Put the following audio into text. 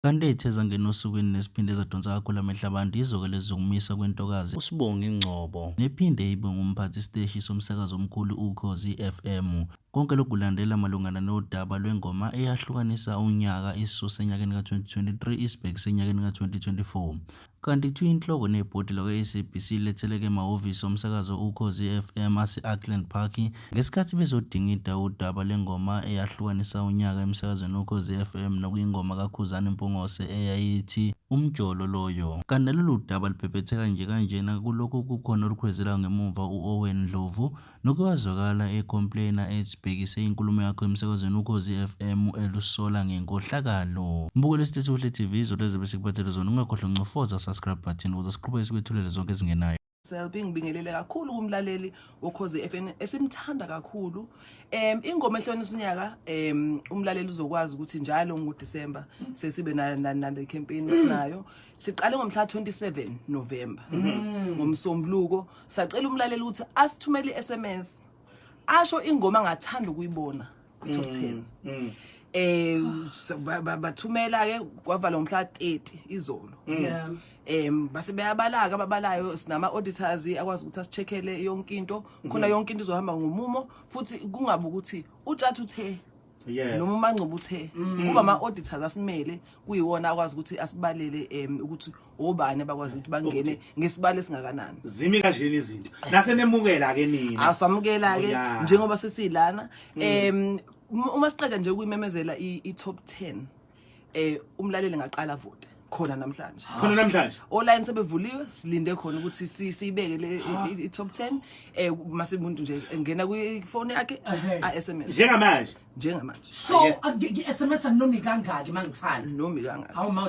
Kanti ethe zangena osukwini nesiphinde zadonsa kakhulu amehlo abantu yizo-ke lezi zokumiswa kwentokazi uSbongi Ngcobo nephinde ibe ngumphathi siteshi somsakazo omkhulu Ukhozi FM. Konke lokhu kulandela malungana nodaba lwengoma eyahlukanisa unyaka isisuse enyakeni ka-2023 isibhekise enyakeni ka-2024. Kanti kuthiwa inhloko nebhodi lakwaSABC letheleka emahhovisi omsakazo Ukhozi FM ase-Auckland Park ngesikhathi bezodingida udaba lwengoma eyahlukanisa unyaka emsakazweni Ukhozi FM nokuyingoma kaKhuzani Mpungose eyayithi Umjolo loyo. Kanti nalolu daba lubhebhetheka nje kanjena kulokhu kukhona olukhwezelayo ngemumva u-Owen Ndlovu Noke wazwakala e complainer ethi bhekise inkulumo yakho emsakazweni ukhozi FM elusola ngenkohlakalo. Mbukela isitetshi Buhle TV izolo ezobe sikuphathele zona ungakhohlwa ncofoza subscribe button ukuze siqhubeke sikwethulele zonke ezingenayo. Selby ngibingelele kakhulu kumlaleli wokhozi FM esimthanda kakhulu um ingoma ehlonisa unyaka um umlaleli uzokwazi ukuthi njalo ngoDecember sesibe nale campaign esinayo siqale ngomhla 27 November mm. ngomsombuluko sacela umlaleli ukuthi asithumele i-sms asho ingoma angathanda ukuyibona kwi-top mm, ten mm. eh bathumela ke kwavala ngomhla 30 izolo mm. yeah em base beyabalaka ababalayo sinama auditors akwazi ukuthi asicheckele yonke into khona mhm. yonke into izohamba ngomumo futhi kungabe ukuthi utshathu the Yes. noma umanqoba uthe mm. kuba ama-auditors asimele kuyiwona akwazi ukuthi asibalele um ukuthi obani abakwazi ukuthi bangene ngesibalo esingakanani zimi kanjena izinto nasenemukela-ke nina asamukela-ke oh, njengoba sesilana um uma siqeda nje ukuyimemezela i-top ten eh umlaleli ngaqala vote khona namhlanje khona namhlanje online sebevuliwe silinde khona ukuthi si- siyibeke le i- i- i top 10 eh mase umuntu nje engena kwi phone yakhe a SMS njengamanje njengamanje so ngi-sms aninomi kangaki uma ngithanda nomi kangaka hawu ma